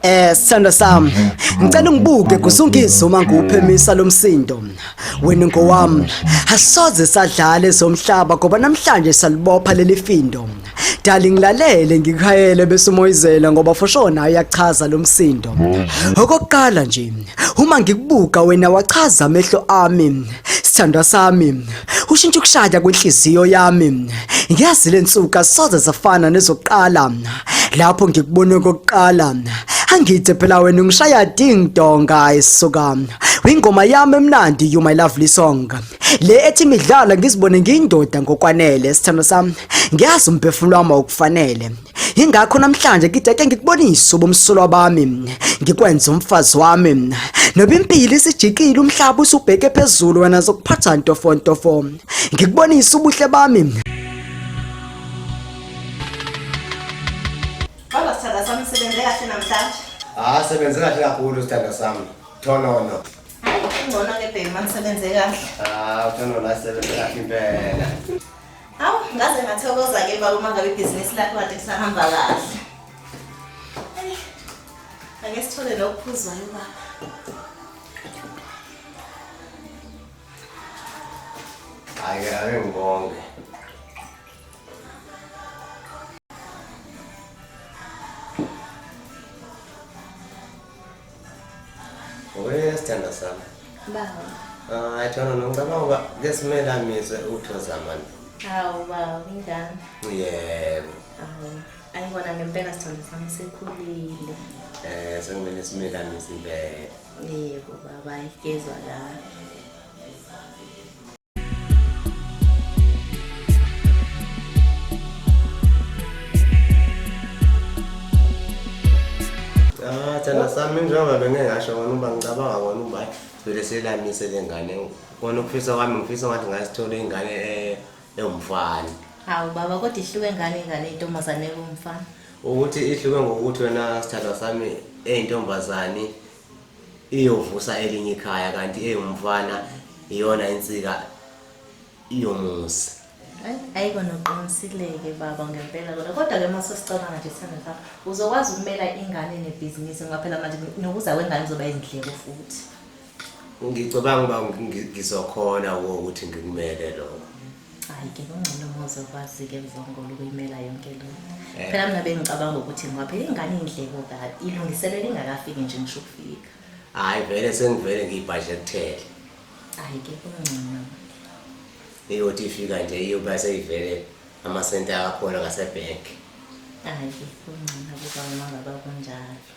Eh sithando sami ngicela ungibuke kusunkizo uma ngiwuphemisa lomsindo wena ngowami asoze sadlala ezomhlaba ngoba namhlanje salibopha lelifindo Dali ngilalele ngikhayele bese umoyizela ngoba for sure nayo iyachaza lo msindo. Okokuqala nje uma ngikubuka wena wachaza amehlo ami sithandwa sami ushintsha ukushaya kwenhliziyo yami ngiyazi lensuka soze zafana nezokuqala lapho ngikubone okokuqala angithe phela wena ungishaya ding dong guys soka wingoma yami emnandi you my lovely song le ethi midlalo ngizibone ngiyindoda ngokwanele sithando sami ngiyazi umphefumulo wami awukufanele ingakho namhlanje ngideke ngikubonise ubumsulwa bami ngikwenza umfazi wami noba impilo isijikile umhlaba usubheke phezulu wena zokuphatha ntofontofo ngikubonise ubuhle bami Baba sithanda sami sebenze kahle namhlanje. Ah sebenze kahle kakhulu sithanda sami. Thonono. Ngcono ke bheki manisebenze kahle. Ah, uthando la sebenze kahle impela. Awu, ngaze ngathokoza ke baba uma ngabe ibhizinisi lakho kade kusahamba kahle. Eyi, Ake sithole lokuphuzwayo baba. Ake ake ngibonge. Wewe sithanda sami. Baba. Ah, ayithona nongibaba ngoba kesimele amizwe uthoza mani. Hawu baba, kunjani? Yebo. Hawu. Ayibona ngempela sithanda sami sekhulile. Eh, sekumele simele amizwe impela. Yebo baba, ayigezwa la. Thanda sami njengoba bengeke ngasho kona uba ngicabanga kona uba vele selamise le ngane kona ukufisa kwami ngifisa ngathi ngasithola ingane e- ewumfana hawu baba kodwa ihluke ngani ingane intombazane kumfana ukuthi ihluke ngokuthi wena sithandwa sami eyintombazane iyovusa elinye ikhaya kanti eyomfana iyona insika iyomuzi ayiko noqinisileke baba ngempela kodwa kodwa ke mase sicabanga nje sithanda lapha uzokwazi ukumela ingane nebhizinisi ngoba phela manje nokuza kwengane kuzoba izindleko futhi ngicabanga uba ngizokhona ukuthi ngikumele lokho hayi ke kungcono muze ukwazi-ke mzongolo ukuyimela yonke lo eh. phela mina bengicabanga ukuthi ngiwaphela ingane iy'ndleko kabi ilungiselela ingakafiki nje ngisho ukufika hhayi vele sengivele ngiyibhajekuthele hayi ke kungcono iyothi ifika nje iyoba seyivele amasenti akakhona ngasebhenki hayi ke kungcono kuba uma ngaba kunjalo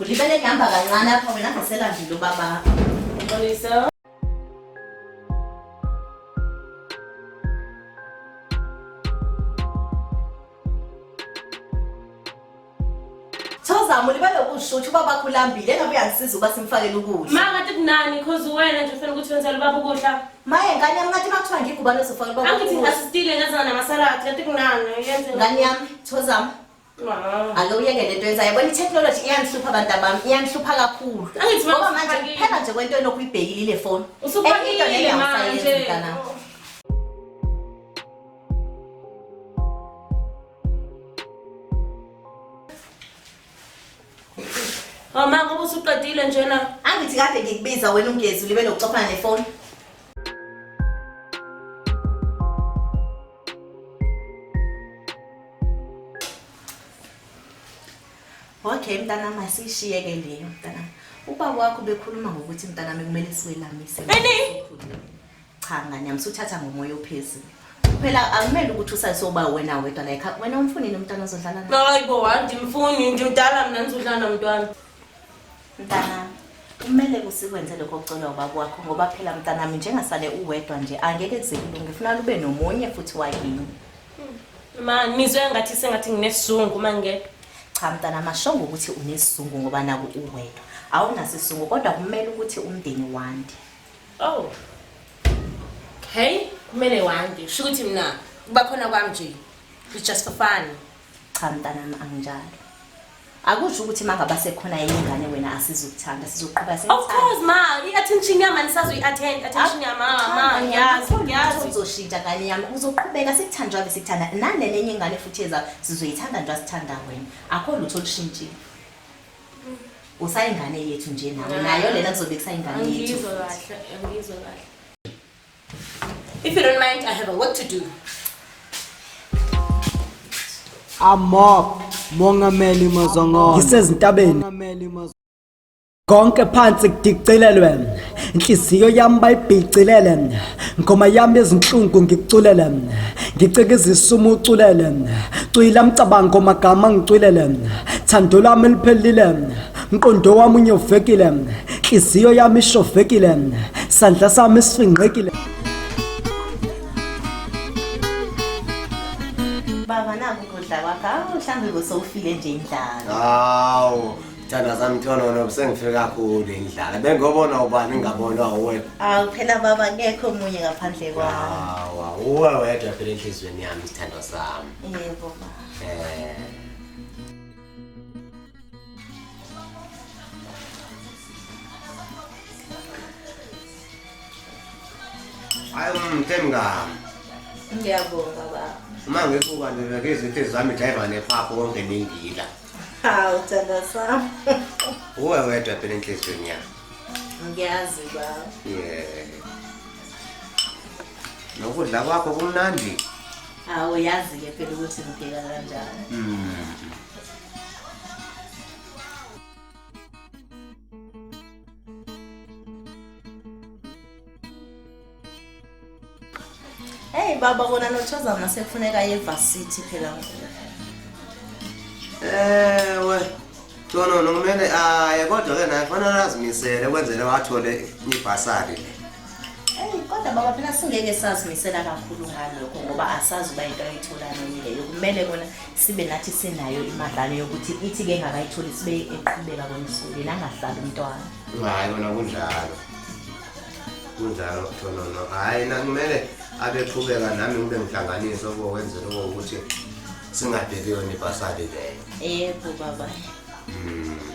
Ulibele ngihamba kancane apha wena ngaselandile ubaba. Xolisa. Thozama ulibele ukusho ukuthi ubaba wakho ulambile engabe uyangisiza ukuba simfakele ukudla. Ma ngathi kunani cause uwena nje ufuna ukuthi wenzele ubaba ukudla. Maye ngane yami ngathi makuthiwa ngigubane uzofakela ubaba wakho Angithi ukudla. ngasistile ngazana namasalad ngathi kunani yenze. Ngane yami Thozama ake uyeke le nto yenzayo yabona i-technology iyanihlupha abantu abami iyanihlupha kakhulu Angithi mama ngoba manje usuphakile. kuphela nje kwento enokhu uyibhekile ile foni Usuphakile Enye into leyo awusayenzi manje. mntanami. Oh, ma ngoba usuqedile njena angithi kade ngikubiza wena ungezi ulibe nokucophana nefoni okay mntanami asiyishiye-ke leyo mntanami ubaba wakho bekhuluma ngokuthi mntanami kumele siwelamise cha ngane yami suthatha ngomoya ophezulu phela akumele ukuthi usasoba wena wedwa like wena umfunini umntwana ozodlala naye hayi bo andimfuni ndimdala mna ndizodlala nomntwana Mntanami, kumele kusikwenze lokho okucelwa ubaba wakho ngoba phela mntanami njengasale uwedwa nje angeke kuze kulunge funa lube nomunye futhi wakini. Ma nizwe ngathi sengathi nginesizungu uma ngingedwa. Cha mntana mashongo ukuthi unesizungu ngoba naku uwedwa. Awunaso isizungu kodwa kumele ukuthi umndeni wande. Oh. Okay, kumele wande. Sho ukuthi mina kuba khona kwami nje. It's just for fun. Cha mntanami anginjalo. Akusho ukuthi mangaba sekhona enye ingane wena asizukuthanda sizoqhubeka Of sithanda. course ma, i-attention yami anisazwe i-attend, attention yami ma, ma, ngiyazi, ngiyazi. uzoshintsha ngane yami uzoqhubeka sikuthandwa ke sikuthanda nanenye enye ingane futhi eza sizoyithanda nje asithanda wena akho lutho olushintshile usayingane yethu nje nawe nayo lena kuzobe kusayingane yethu Angiyizwa futhi. kahle, angiyizwa kahle. If you don't mind, I have a work to do. Amok Mongameli Mazongolo. Ngisezintabeni. Mongameli Mazongolo. Konke phansi kudicilelwe. Inhliziyo yami bayibhicilele. Ngoma yami ezinhlungu ngikuculele. Ngicika izisumu uculele. Cwila mcabango magama ngicwilele. Thando lami liphelile. mqondo wami unyovekile nhliziyo yami ishovekile sandla sami sifingqekile baba naku kudla kwakho awu mhlawumbe bosowufile nje indlala hawu thanda zami ntonono besengifike kakhulu indlala bengobona ubani ngabona uwe awu phela baba kekho omunye ngaphandle kwami hawa uwe wedwa phela enhliziyweni yami sithandwa sami yebo baba eh hayi umthemngami ngiyabonga baba uma ngibuka nje ke izinto zami driver nephapho konke ningila hawu thanda sami uwe wedwa phela enhliziyweni yami ngiyazi baba yeah nokudla kwakho kumnandi hawu yazi-ke phela ukuthi ngiphila kanjani mm. Hey baba kona nochaza ngase kufuneka ye varsity phela ngoku. Ewe. Tona nomele aye kodwa ke naye fanele azimisele kwenzele wathole ibhasari. kodwa baba phela singeke sazimisela kakhulu ngalokho ngoba asazi uba into ayitholani leyo kumele kona sibe nathi sinayo imadlalo yokuthi ithi ke ngakayitholi sibe eqhubeka kona esikoleni angahlali umntwana hayi kona kunjalo kunjalo thonono hhayi nakumele abeqhubeka nami ngibe ngihlanganise okokwenzela okokuthi singabheki yona ibhasali leyo yebo baba mm.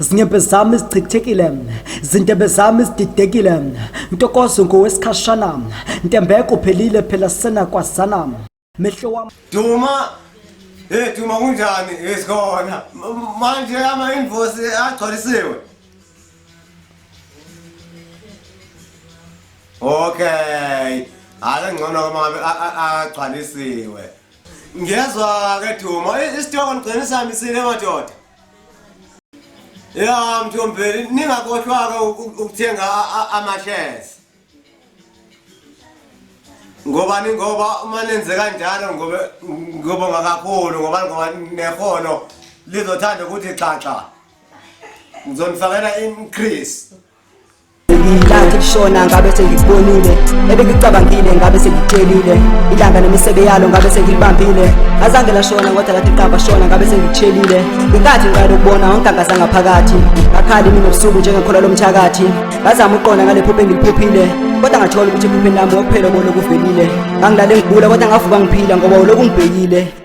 zinyembe zami zichithekile zintebe zami zididekile ntokozo ngowesikhashana ntembeko uphelile phela sena kwazana mehlo wami duma hey duma kunjani esikhona manje ama invoice agcwalisiwe Okay. Hayi ngcono uma ngabe agcwalisiwe. Ngiyezwa ke Duma, isitoko ngigcina sihambisile madoda. Ya mthombeli ningakohlwaka ukuthenga amashares. Ngoba ningoba uma nenze kanjalo ngoba ngoba ngakakhulu ngoba ngoba nehono lizothanda ukuthi xaxa. ngizonifakela increase ilanga lishona ngabe sengikubonile ebengicabangile ngabe sengikutshelile ilanga nemisebe yalo ngabe sengilibambile azange lashona kodwa lathi qaba shona ngabe sengikutshelile inkathi ngiqala ukubona wonke angazanga phakathi ngakhali mina ubusuku njengekhola lomthakathi ngazama uqonda ngale phupho engiliphuphile kodwa ngathola ukuthi ephupheni lami wokuphela obona okuvelile ngangilale ngigula kodwa ngavuka ngiphila ngoba uloku ngibhekile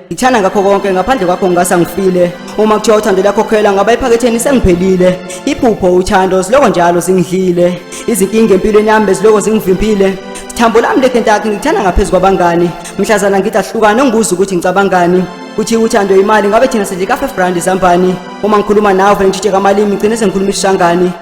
ngithanda ngakho konke ngaphandle kwakho ngingasa ngifile uma kuthiwa uthando liyakhokhela ngaba ephaketheni sengiphelile iphupho uthando siloko njalo zingidlile izinkinga empilweni yami beziloko zingivimbile thambo lami lekentakhe ngithanda ngaphezu kwabangani mhlazana ngithi ahlukane ngibuza ukuthi ngicabangani kuthi uthando imali ngabe thina sidle ka-five rand zambani uma ngikhuluma nawe vele ngitshitshe kamalimi ngigcine sengikhuluma isishangani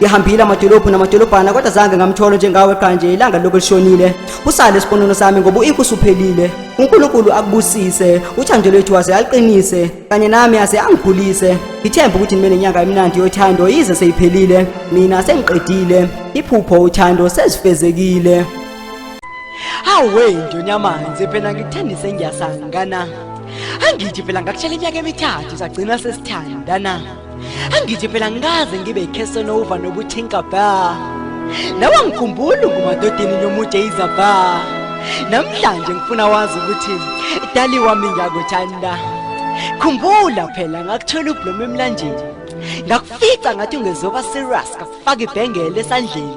ngihambile amadolobhu namadolobhana kodwa zange ngamtholo njengawe qha nje ilanga lokho lishonile usale isiponono sami ngoba uinku usuphelile unkulunkulu akubusise uthando lwethu waze aliqinise kanye nami aze angikhulise ngithemba ukuthi nibe nenyanga emnandi yothando yize seyiphelile mina sengiqedile iphupho uthando sezifezekile hawe ndonyamanzi phela ngikuthembise ngiyasangana angithi phela ngakutshela iminyaka emithathu sagcina sesithandana angithi phela ngikaze ngibe icasanova nobuthinka ba nawe ngikhumbula ungumadodeni nomude izaba namhlanje ngifuna wazi ukuthi dali wami ngiyakuthanda khumbula phela ngakuthola ublomo emlanjeni ngakufica ngathi ungezoba serious ngakufaka ibhengele esandleni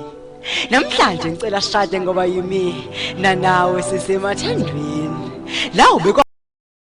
namhlanje ngicela shade ngoba yimi nanawe sisemathandweni lawo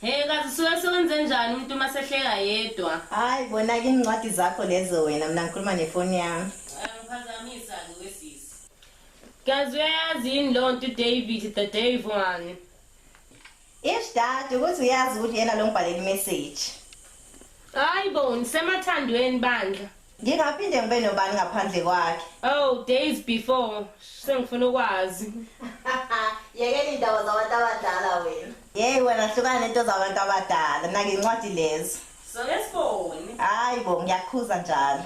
Hey kazi suke sewenze njani umuntu uma sehleka yedwa? Hayi bona ke incwadi zakho lezo wena mina ngikhuluma nefoni yami. Angiphazamisa ke wesisi. Kazi uyayazi yini lo nto David the Dave one? Ish dad ukuthi uyazi ukuthi yena lo ngibhalela imessage. Hayi bo nisemathandweni bandla. Ngingaphinde ngibe nobani ngaphandle kwakhe. Oh, days before. Sengifuna ukwazi. Yekela indaba zabantu abadala wena. Yey wena hlukana nento zabantu abadala. Nake incwadi lezo. So lesiboni. Hayi bo ngiyakhuza njalo.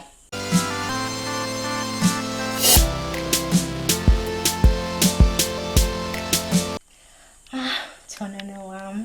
Ah, Thonana wami.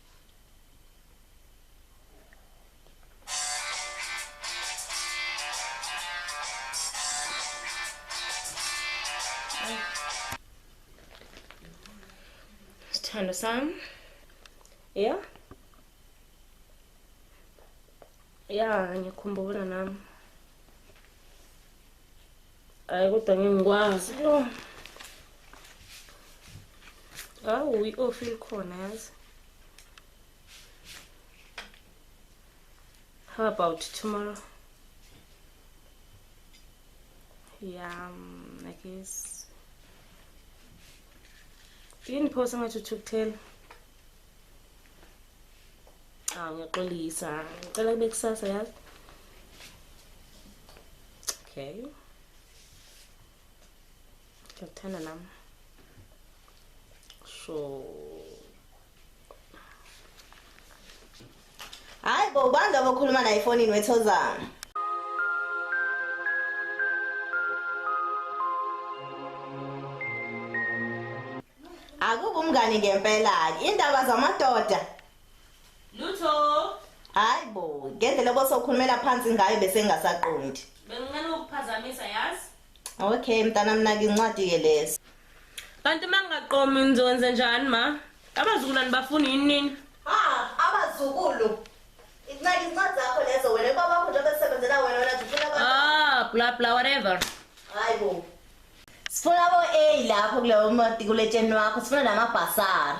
Sithandwa sami. Yeah. Yeah, ngikhumbula nami. hayi kodwa ngeke ngikwazi yo hawu i-ofi likhona yazi how about tomorrow yeah um, i guess yini phosa ngathi uthukuthela awu ngiyaxolisa ngicela kube kusasa yazi okay ngiyakuthanda nami sure Hayi bo ubani lobo okhuluma naye efonini wethozana. Akuba umngani ngempela ke indaba zamadoda. Lutho. Hayi bo ngendlela obosokhulumela phansi ngayo bese ngasaqondi. Bengincane ukuphazamisa yazi. Okay mntana mina ngincwadi ke lesi. Kanti mangaqomi ngizokwenza njani ma? Abazukulwane bafuna yini nini? Ha, abazukulu. Incela incwadi zakho lezo wena baba wakho njengoba esebenzela wena wena zifuna abantu. Ah, bla bla whatever. Hayi bo. Sifuna bo A lapho kuleyo mati kuletsheni wakho, sifuna namabhasara.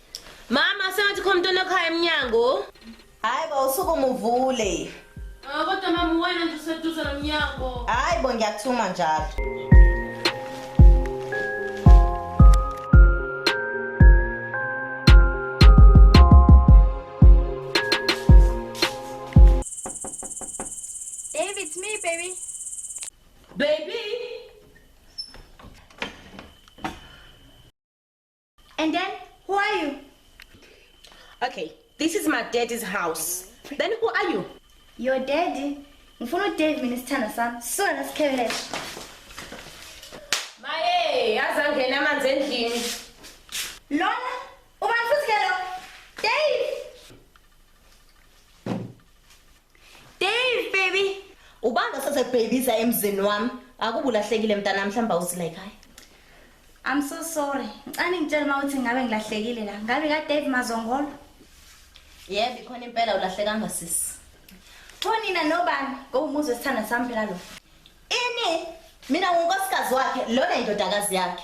Mama sengathi khona umntwana ekhaya emnyango. Hayi bo usuku muvule. Ah, kodwa mama wena nje useduze nomnyango. Hayi bo ngiyathuma njalo. Babe, it's me, baby. Baby. And then who are you? Okay, this is my daddy's house. Then who are you? Your daddy. Ngifuna uDave mina sithanda sami. Sona nasikhebeleshe. Maye, yazi angena amanzi endlini. Lona ubani futhi ke lo? Dave. Dave baby, ubanda sase babyza emzini wami. Akubulahlekile mntana mhlamba awuzila ekhaya. I'm so sorry. Ngicane ngitshela uma uthi ngabe ngilahlekile la. Ngabe ka Dave Mazongolo? Yebo ikhona impela ulahlekanga sisi. Thonina nobani? Ngowumuzi wesithanda sami phela lo. Ini? Mina ngunkosikazi wakhe, lona indodakazi yakhe.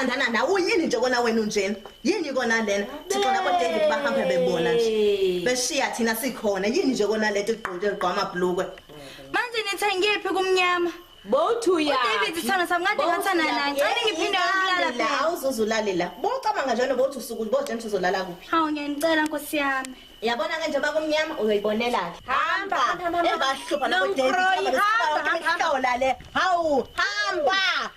bathandana nawe uyini nje kona wena unjena yini kona lena thixo nabo david bahambe bebona nje beshiya thina sikhona yini nje kona lento igqoke ligqwama bhlukwe manje nithengephi kumnyama Bothu ya. David sithanda sami kade ngathana naye. Ngicela ngiphinde ukulala phela. Awuzuzulale la. Bocabanga njalo bothi usuku bothi ngisizolala kuphi? Hawu ngiyanicela Nkosi yami. Yabona ke njengoba kumnyama uyoyibonela ke. Hamba. Ebahlupha no David. Hamba hamba hamba le. Hawu hamba.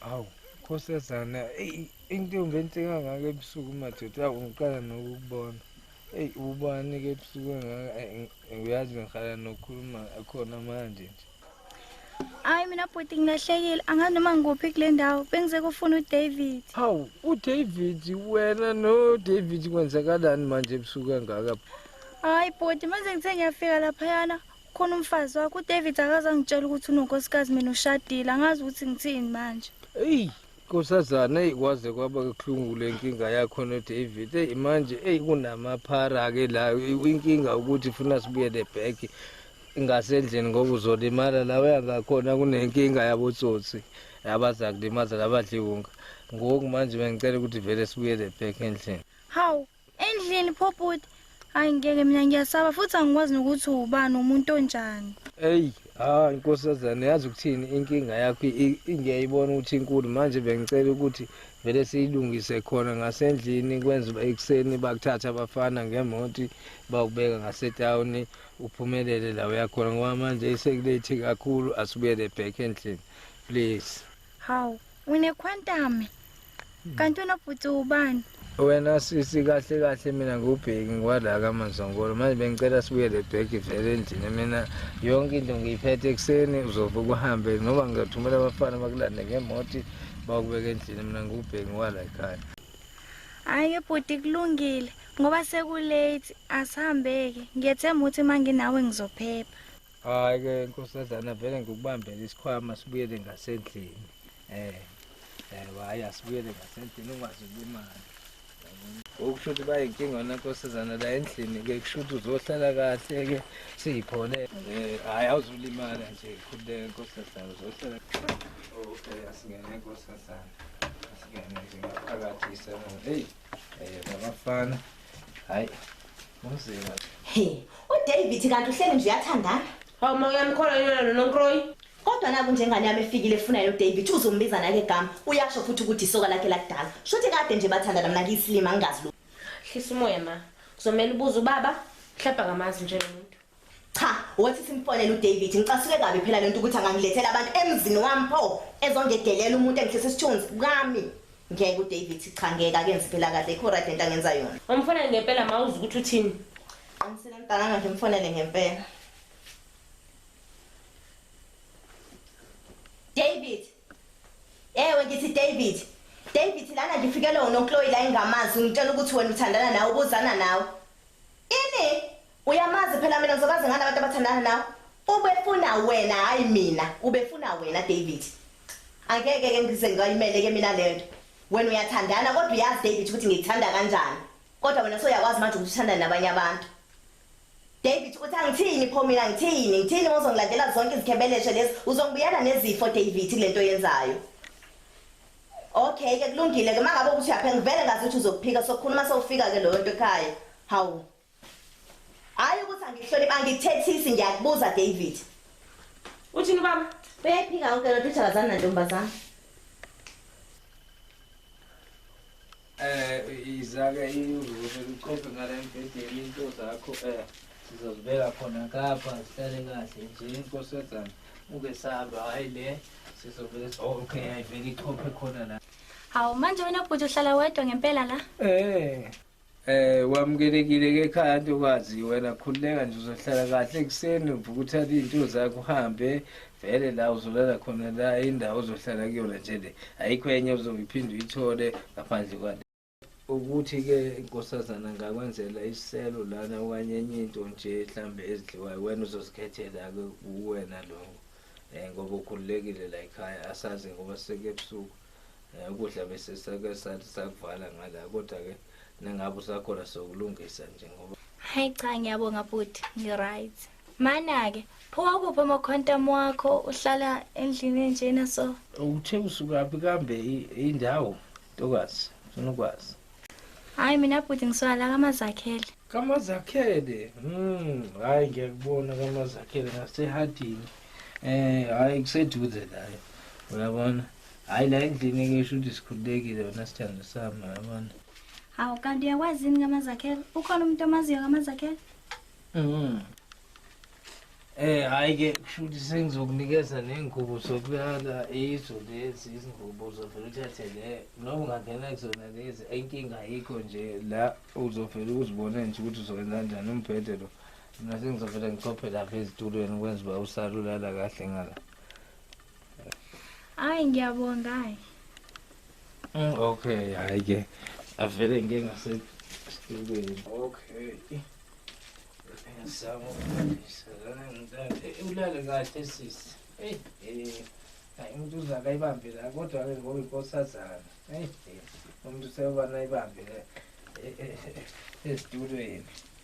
Awu khosazana into ngenhle kangaka ebusuku madoda awu ngiqala nokukubona. Ey ubani ke ebusuku kangaka uyazi ngihlala nokhuluma khona manje nje. Hayi mina bhuti ngilahlekile angazi noma ngikuphi kule ndawo bengize kufuna uDavid. Hawu uDavid wena no David kwenzakalani manje ebusuku kangaka? Hayi bhuti manje ngithe ngiyafika laphayana khona umfazi wakho uDavid akaze angitshela ukuthi unonkosikazi mina ushadile angazi ukuthi ngithini manje. Eyi Nkosazana eyi kwaze kwaba kuhlungu le nkinga yakho noDavid eyi manje eyi kunamaphara-ke la inkinga ukuthi funa sibuyele back ngasendlini ngoba uzolimala la uyangakhona kunenkinga yabotsotsi abaza kulimaza labadliwunga ngoku manje bengicela ukuthi vele sibuyele back endlini hawu Endlini pho bhuti. Hayi ngeke mina ngiyasaba futhi angikwazi nokuthi ubani umuntu onjani. Eyi, hayi nkosazana yazi ukuthini inkinga yakho i- i- ngiyayibona ukuthi inkulu manje bengicela ukuthi vele siyilungise khona ngasendlini kwenza uba ekuseni bakuthatha abafana ngemoti bakubeka ngasetawuni uphumelele la uyakhona ngoba manje isekulethi kakhulu asibuyele back endlini please Hawu, unekhwantame. Hmm. Kanti unobhuti ubani? Wena sisi kahle kahle mina ngubheki ngiwala kaManzongolo manje bengicela sibuyele back vele endlini mina yonke into ngiyiphethe ekuseni uzobe kuhambe noma ngizothumela abafana bakulande ngemoto bakubeka endlini mina ngubheki ngiwala ekhaya Hayi bhuti kulungile ngoba sekulate asihambeke ngiyethemba ukuthi manginawe ngizophepha hayi ke nkosazana vele ngikubambele isikhwama sibuyele ngasendlini eh eh hayi asibuyele ngasendlini ungazi ulimali okusho ukuthi bayinkinga wona nkosazana la endlini ke kusho ukuthi uzohlala kahle ke siyiphole eh hayi awuzulimala nje khululeke nkosazana uzohlala okay asingene nkosazana asingene nje ngaphakathi isana hey Abafana. Hayi. Umzila. He, uDavid kanti uhleli nje uyathandana. Hawu ma uyamkhola yena lo nonkroyi. Kodwa naku njengane yami efikile efuna yo David uzombiza nake gama. Uyasho futhi ukuthi isoka lakhe lakudala. Shothi kade nje bathandana mina ngiyisilima ngingazi lo. Hlisa umoya ma. Kuzomela ubuze ubaba. Mhlawumbe akamazi nje lo muntu. Cha, wothi simfonele uDavid ngicasuke kabi phela lento ukuthi angangilethela abantu emzini wami pho ezongedelela umuntu engihlisa isithunzi kami. Ngeke uDavid cha ngeke akenzi phela kahle ikho right lento angenza yona. Umfonele ngempela mawuzi ukuthi uthini. Qinisile mntana nje mfonele ngempela. David. Ewe ngithi David. David lana ngifikele unonkloyi la engamazi ungitshela ukuthi wena uthandana nawe ubuzana nawe. Ini? Uyamazi phela mina ngizobazi ngani abantu abathandana nawe. Ubefuna wena hayi mina, ubefuna wena David. Angeke ke ngize ngayimele ke mina lento. Wena uyathandana kodwa uyazi David ukuthi ngikuthanda kanjani. Kodwa wena soyakwazi manje ukuthi uthanda nabanye abantu. David uthi angithini pho mina ngithini ngithini ngozongilandela zonke izikhebeleshe lezi uzongibuyela nezifo David kulento yenzayo Okay ke kulungile ke mangabe ukuthi uyaphe ngivele ngazi ukuthi uzokuphika sokhuluma sowufika ke loyo nto ekhaya hawu Hayi ukuthi angihloniphi angikuthethisi ngiyakubuza David. Uthini baba? Uyayiphika yonke lento uthakazana nantombazana. Eh izake ivuze uqophe ngale mbhedeni into zakho eh sizozibeka khona kapha sihlale kahle nje inkosazana uke saba hayi le sizovele okay ayivele ichophe khona la. Hawu manje wena bhuti uhlala wedwa ngempela la? Eh Eh wamukelekile ke ekhaya ntokazi wena khululeka nje uzohlala kahle ekuseni uvuka uthathe izinto zakho uhambe vele la uzolala khona la indawo ozohlala kuyona nje le ayikho enye ozoyiphinde uyithole ngaphandle kwale ukuthi ke inkosazana ngakwenzela isiselo lana okanye enye into nje mhlambe ezidliwayo wena uzozikhethela ke kuwena lokho eh ngoba ukhululekile la ekhaya asazi ngoba sekubusuku Eh, ukudla bese sake sathi sakuvala ngala kodwa ke nengabe usakhona sokulungisa nje ngoba hayi cha ngiyabonga bhuti ngi-right mana-ke phuma kuphi amakhwantam wakho uhlala endlini enjena so uthe usukaphi kambe indawo ntokazi funa ukwazi hayi mina bhuti ngiswala kamazakhele kamazakhele mm hayi ngiyakubona kamazakhele ngasehadini eh hayi kuseduze layo uyabona hayi la endlini ke isho ukuthi sikhululekile wena sithando sami yabona hawu kanti uyakwazi yini ngamazakhela ukhona umuntu omaziyo ngamazakhela mm Eh hayi ke kusho ukuthi sengizokunikeza nengubo sokulala izo lezi izingubo uzovela uthathe le noma ungangena kuzona lezi inkinga ayikho nje la uzovela uzibone nje ukuthi uzokwenza kanjani umbhede lo mina sengizovela ngichophe lapha ezitulweni ukwenza uba usalulala kahle ngala Hayi ngiyabonga hayi. Mm, okay, hayi ke. Avele ngeke ngase Student. Okay. Pensavo ulale kahle sisi. Hey, eh. Hayi umuntu uza kayibambe la kodwa ke ngoba inkosazana. Hey, umuntu seyoba nayibambe la. Estudweni.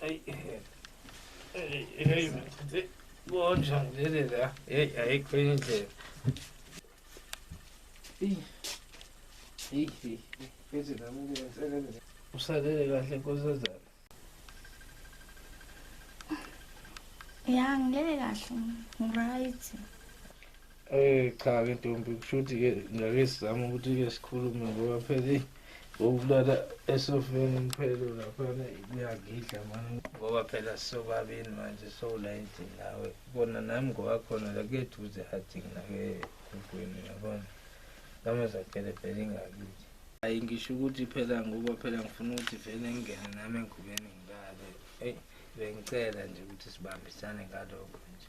Hey, hey, hey, hey, hey, bonjani leli la heyi ayikho enye indlela usalele kahle nkosazana ya ngilele kahle ngiright Eh cha ke ntombi kushuthi ke ngake sizama ukuthi ke sikhulume ngoba phela ngokulala esofeni umphelo laphana kuyangidla mani ngoba phela sisobabini manje sowula endlini nawe kona nami ngoba khona la kuyeduze hadingi nake enkweni yabona noma zakhele phela ingakithi hayi ngisho ukuthi phela ngoba phela ngifuna ukuthi vele ngingene nami engubeni ngilale eyi bengicela nje ukuthi sibambisane ngalokho nje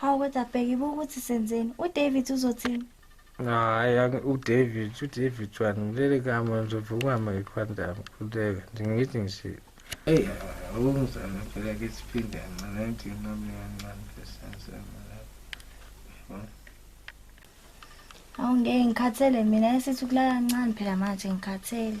Hawu kodwa bheki buka ukuthi senzeni. UDavid uzothini? Hayi angi- uDavid uDavid wani ngilele kama ngizovukwa mayikhwandam khuleka nje ngithi nje eyi awungizame phela ke siphinde kancane ngithi nami kancane besenzema lapho Hawu ngeke ngikhathele mina esithi ukulala kancane phela manje ngikhathele.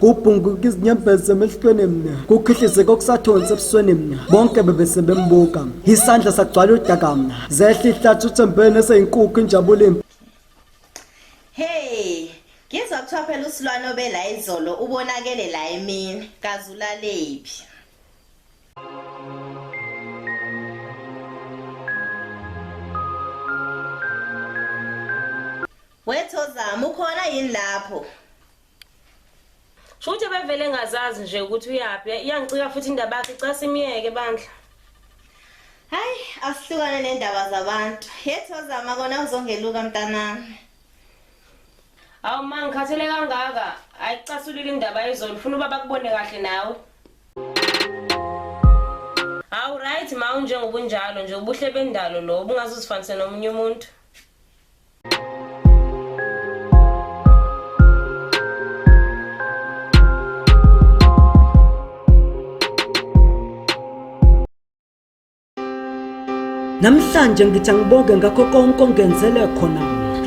kubhunguka izinyembezi emehlweni mna kukhihlizeka okusathonsi ebusweni mna bonke bebese bembuka isandla sagcwala udaka mna zehla ihlathi uthembeni eseyinkukhu injabulo impi hey ngizwa kuthiwa phela usilwane obela izolo ubonakele la emini kaze ulalephi wethozama ukhona yini lapho Shuthe bevele ngazazi nje ukuthi uyaphi. Iyangicika futhi indaba yakhe casi imiyeke bandla. Hayi asihlukane nendaba zabantu. Yethozama kona uzongeluka mntanami. Awu ma ngikhathele kangaka. Ayicasulile indaba yezolo. Ufuna ubaba kubone kahle nawe. Awu right ma unjengoba unjalo nje ubuhle bendalo lo ubungaze uzifanise nomunye umuntu. Namhlanje ngithi angibonge ngakho konke ongenzele khona.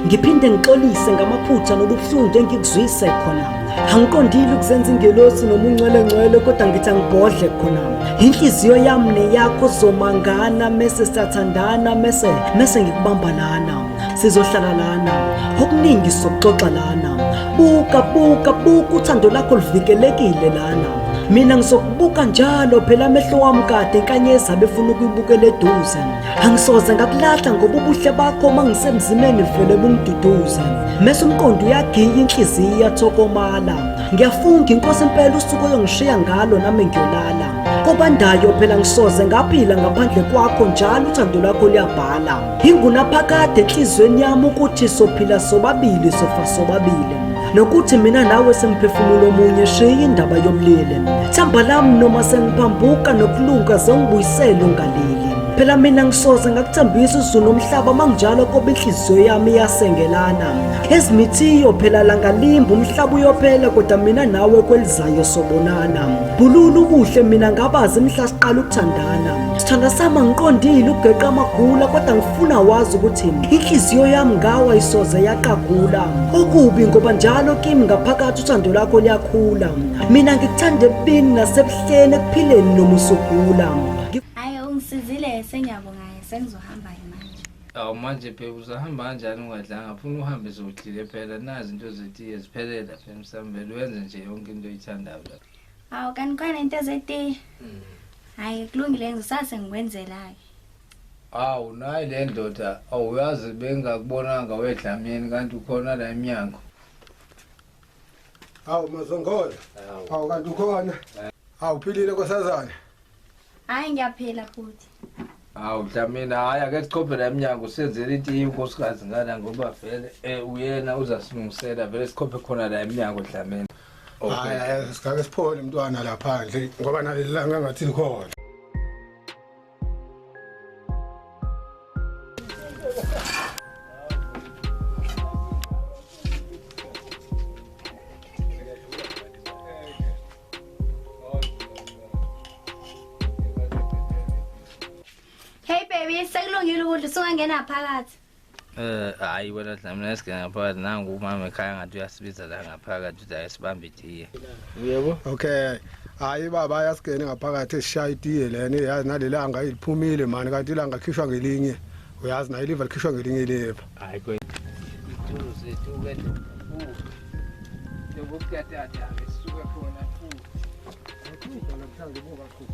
Ngiphinde ngixolise ngamaphutha nobuhlungu engikuzwise khona. angiqondile ukuzenza ingelosi noma ungcwelengcwele kodwa ngithi angibhodle khona inhliziyo yami neyakho zomangana mese sathandana mese mese ngikubamba lana sizohlala lana okuningi sokuxoxa lana buka buka buka uthando lakho luvikelekile lana mina ngizokubuka njalo phela amehlo wami kade inkanyezi abefuna ukuyibukela eduze angisoze ngakulahla ngoba ubuhle bakho uma ngisemzimeni vele bungiduduza mese umqondo uyagiya inhliziyo iyathokomala ngiyafunga inkosi impela usuku oyongishiya ngalo nami ngiyolala kobandayo phela ngisoze ngaphila ngaphandle kwakho njalo uthando lwakho luyabhala ingunaphakade enhliziyweni yami ukuthi sophila sobabili sofa sobabili nokuthi mina nawe simphefumulo omunye shiya indaba yobulili themba lami noma sengiphambuka nokulunga zengibuyisele ungalili phela mina ngisoze ngakuthembisa izulu umhlaba manginjalo kobe inhliziyo yami iyasengelana ezimithiyo phela langalimba umhlaba uyophela kodwa mina nawe kwelizayo sobonana bhulula ubuhle mina ngabazi mhla siqala ukuthandana sithanda sama ngiqondile ugeqa amagula kodwa funa wazi ukuthi inhliziyo yami ngawa isoze yaqagula okubi ngoba njalo kimi ngaphakathi uthando lakho liyakhula mina ngikuthanda ebubini nasebuhleni ekuphileni noma usugula hayi ungisizile sengiyabonga sengizohamba manje awu manje phela uzahamba kanjani ungadlanga funa uhambe zodlile phela nazi into zetiye ziphelela phela msambele wenze nje yonke into oyithandayo lapha awu kanti khona into zetiye mm. hayi kulungile ngisase ngikwenzela-ke Awu nayi le ndoda awuyazi bengakubonanga wedlamini kanti ukhona la emnyango. Hawu mazongola. Hawu kanti ukhona. Hawu philile nkosazana. Hayi ngiyaphila futhi. Hawu Dlamini hayi ake sichophe la emnyango senzele itiye unkosikazi ngana ngoba vele eh uyena uzasilungisela vele sichophe khona la emnyango Dlamini. Hayi hayi sikake siphole mntwana lapha nje ngoba nalelanga ngathi likhona. Hey baby, sekulungile ukudla usungangena phakathi. Eh hayi wena Dlamini esike ngaphakathi nangu umama ekhaya ngathi uyasibiza la ngaphakathi uthi ayisibambe itiye. Yebo. Okay. Hayi baba ayasigene ngaphakathi esishaya itiye lena yazi nalelanga iliphumile mani kanti ilanga likhishwa ngelinye. Uyazi nayo iliva likhishwa ngelinye iliva. Hayi kwethu. Itulo zethu ke. Yebo kuyatata ke sisuke khona futhi. Ngikho namhlanje buka khuphi.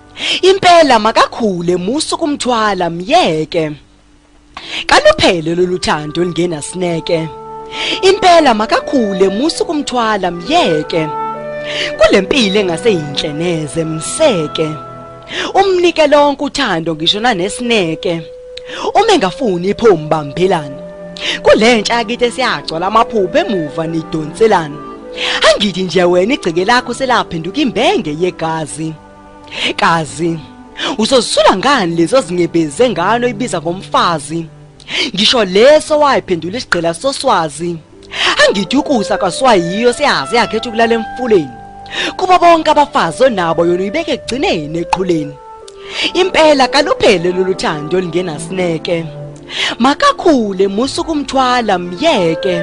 Impela makakhule musu kumthwala myeke. Kaluphele loluthando lingena sineke. Impela makakhule musu kumthwala myeke. Kulempilo engase yinhle neze mseke. Umnike lonke uthando ngisho nanesineke. Uma engafuni iphomu bambelana. Kulentsha yakithi esiyagcwala amaphupho emuva nidonselana. Angithi nje wena igceke lakho selaphenduka imbenge yegazi. Kazi uzozisula ngani lezo zinyebeze ngano ibiza ngomfazi. Ngisho leso wayiphendula isigqila soswazi. Angithi ukusa kaswayiyo siyazi yakhetha ukulala emfuleni. Kuba bonke abafazi onabo yona uyibeke egcineni eqhuleni. Impela kaluphele loluthando lingenasineke. Makakhule musu kumthwala myeke.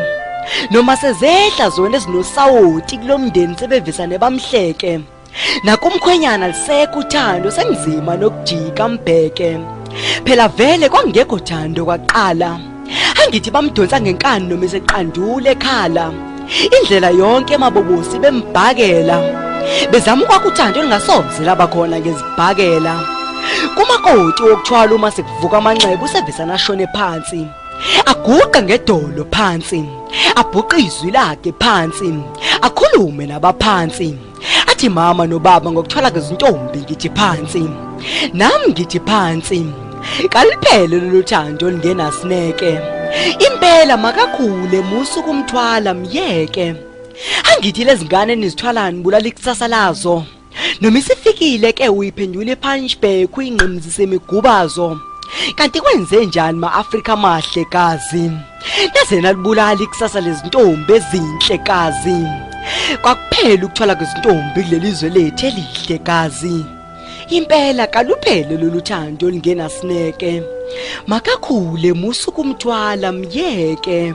Noma sezehla zona ezinosawoti kulomndeni sebevisane bamhleke. nakumkhwenyana lisekho uthando senizima nokujika mbheke phela vele kwangekho thando kwaqala angithi bamdonsa ngenkani noma eseqandule ekhala indlela yonke emabobosi bembhakela bezama ukwakha uthando elingasoze laba khona ngezibhakela kumakoti wokuthwala uma sekuvuka amanxeba usevesana ashone phansi aguqe ngedolo phansi abhuqe izwi lakhe phansi akhulume nabaphansi athi mama nobaba ngokuthola kezintombi ngithi phansi nami ngithi phansi kaliphele lolu thando lingenasineke impela makakhule musu kumthwala myeke angithi lezingane nizithwalani bulala ikusasa lazo Noma isifikile ke uyiphendule punchback uyingqimzise imigubazo. Kanti kwenze njani ma-Afrika amahle kazi? Naze nalibulala ikusasa lezintombi ezinhle kazi. Kwakuphela ukuthola kwezintombi kuleli zwe lethu elihle kazi. Impela kaluphele lolu thando olungenasineke. Makakhule musa ukumthwala myeke.